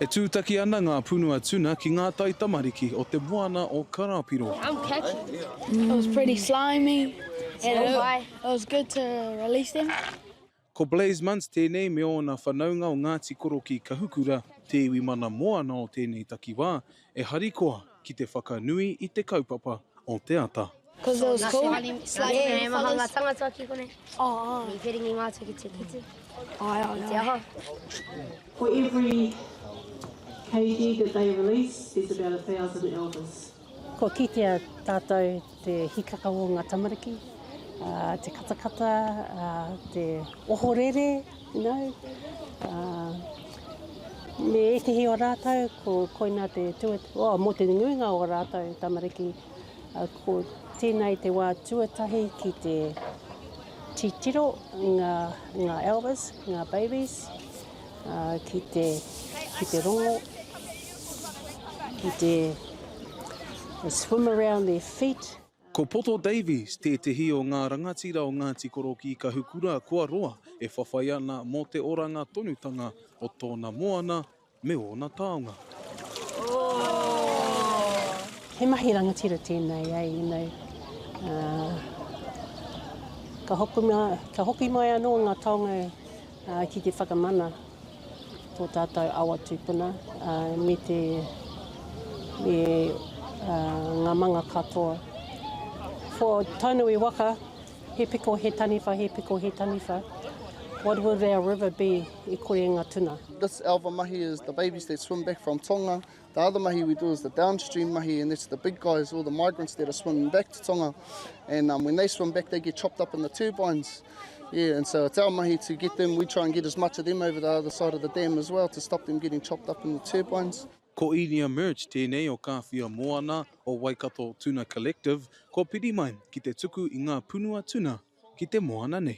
E tūtaki ana ngā punua tuna ki ngā taitamariki o Te Moana o Karapiro. I'm catching it. It was pretty slimy and it was good to release them. Ko Blaise Muntz tēnei me ōna whanaunga o Ngāti Korokī Kahukura, te iwi mana moana o tēnei takiwā, E harikoa ki te whakanui i te kaupapa o te ata. Kua kitea tātou Te hikaka o nga tamariki, te katakata, te ohorere, you know, me ekehi o ratou ko koina te tuatahi, oh mo te nuinga o ratou tamariki, ko tenei te wa tuatahi ki te titiro nga Elvis, nga babies. ki te, ki te rongo, ki te swim around their feet. Ko Poto Davies tētehi o ngā rangatira o Ngāti Korokī-Kahukura kua roa e whawhai ana mō te oranga tonutanga o tōna moana me ōna taonga. He mahi rangatira tēnei, eh, you know, uh, ka hoki, ka hoki mai anō ngā taonga Ki te whakamana tō tātou awa tūpuna me te, me ngā manga katoa. For Tainui waka, he piko, he taniwha, he piko, he taniwha, what will our river be i kore e nga tuna? This our mahi is the babies that swim back from Tonga, The other mahi we do is the downstream mahi and that's the big guys, all the migrants that are swimming back to Tonga and um, when they swim back they get chopped up in the turbines. Yeah, and so it's our mahi to get them, we try and get as much of them over the other side of the dam as well to stop them getting chopped up in the turbines. Ko Inia Merge tēnei o Kāwhia Moana o Waikato Tuna Collective kua piri mai ki te tuku i ngā punua tuna ki te moana nei.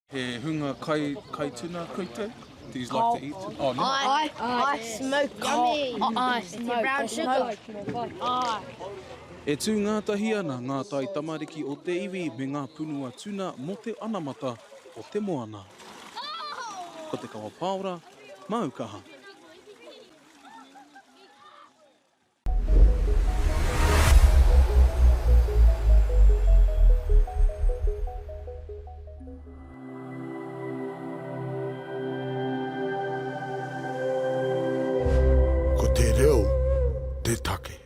He hunga kai, kai tuna koutou? Do you like to eat tuna? Oh, no. Aye, aye, smoke, yummy. Oh, aye, smoke. Brown sugar. Aye. E tū ngātahi ana ngā tai tamariki o te iwi me ngā punua tuna mō te anamata o te moana. Ko te kawa pāora, māu kaha. Ko te reo te take.